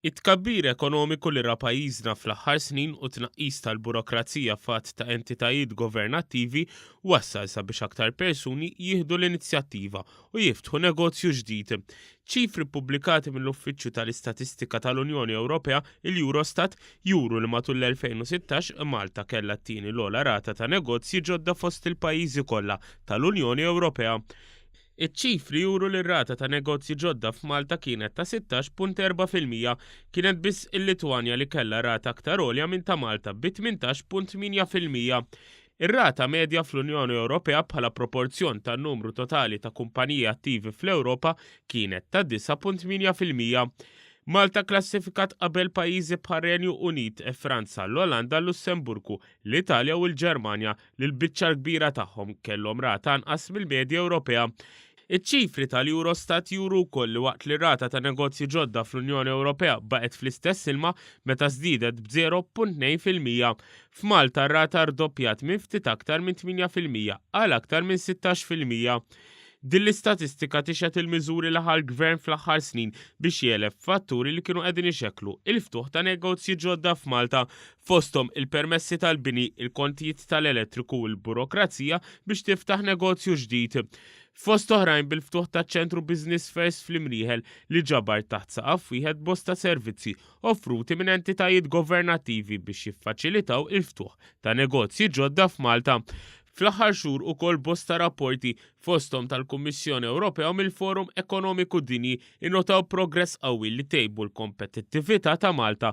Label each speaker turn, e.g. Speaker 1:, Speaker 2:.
Speaker 1: It-tkabbir ekonomiku li ra pajjiżna fl-aħħar snin u tnaqqis tal-burokrazija f'għadd ta' entitajiet governattivi wassal sabiex aktar persuni jieħdu l-inizjattiva u jiftħu negozju ġdid. Ċifri ppubblikati mill-Uffiċċju tal-Istatistika tal-Unjoni Ewropea, il-Eurostat, juru li matul l-2016 Malta kellha t-tieni l-ogħla rata ta' negozji ġodda fost il-pajjiżi kollha tal-Unjoni Ewropea. Iċ-ċifri juru li r-rata ta' negozji ġodda f'Malta kienet ta' 16.4 fil-mija. Kienet biss il-Litwanja li kellha rata aktar għolja minn ta' Malta bi 18.8 fil-mija. Ir-rata medja fl-Unjoni Ewropea bħala proporzjon tan-numru totali ta' kumpaniji attivi fl-Ewropa kienet ta' 9.8 fil-mija. Malta klassifikat qabel pajjiżi bħar-Renju Unit, Franza, l-Olanda, l-Lussemburgu, l-Italja u l-Ġermanja li l-biċċa l-kbira tagħhom kellhom rata anqas mill-medja Ewropea. Iċ-ċifri tal-Eurostat juru wkoll li waqt li r-rata ta' negozji ġodda fl-Unjoni Ewropea baqgħet fl-istess ilma meta żdiedet b'0.2 fil-mija, f'Malta r-rata rdoppjat minn ftit aktar minn 8 fil-mija għal aktar minn 16 fil-mija. Din l-istatistika tixhed il-miżuri li ħa l-Gvern fl-aħħar snin biex jegħleb fatturi li kienu qegħdin ixekklu il-ftuħ ta' negozji ġodda f'Malta fosthom il-permessi tal-bini, il-kontijiet tal-elettriku u l-burokrazija biex tiftaħ negozju ġdid. Fost oħrajn bil-ftuħ ta' ċentru Business First fl-Imrieħel li ġabar taħt saqaf wieħed bosta servizzi offruti minn entitajiet governattivi biex jiffaċilitaw il-ftuħ ta' negozji ġodda f'Malta. Fl-aħħar xhur ukoll bosta rapporti fosthom tal-Kummissjoni Ewropea u mill-Forum Ekonomiku Dinji innotaw progress qawwi li tejbu l-kompetittività ta' Malta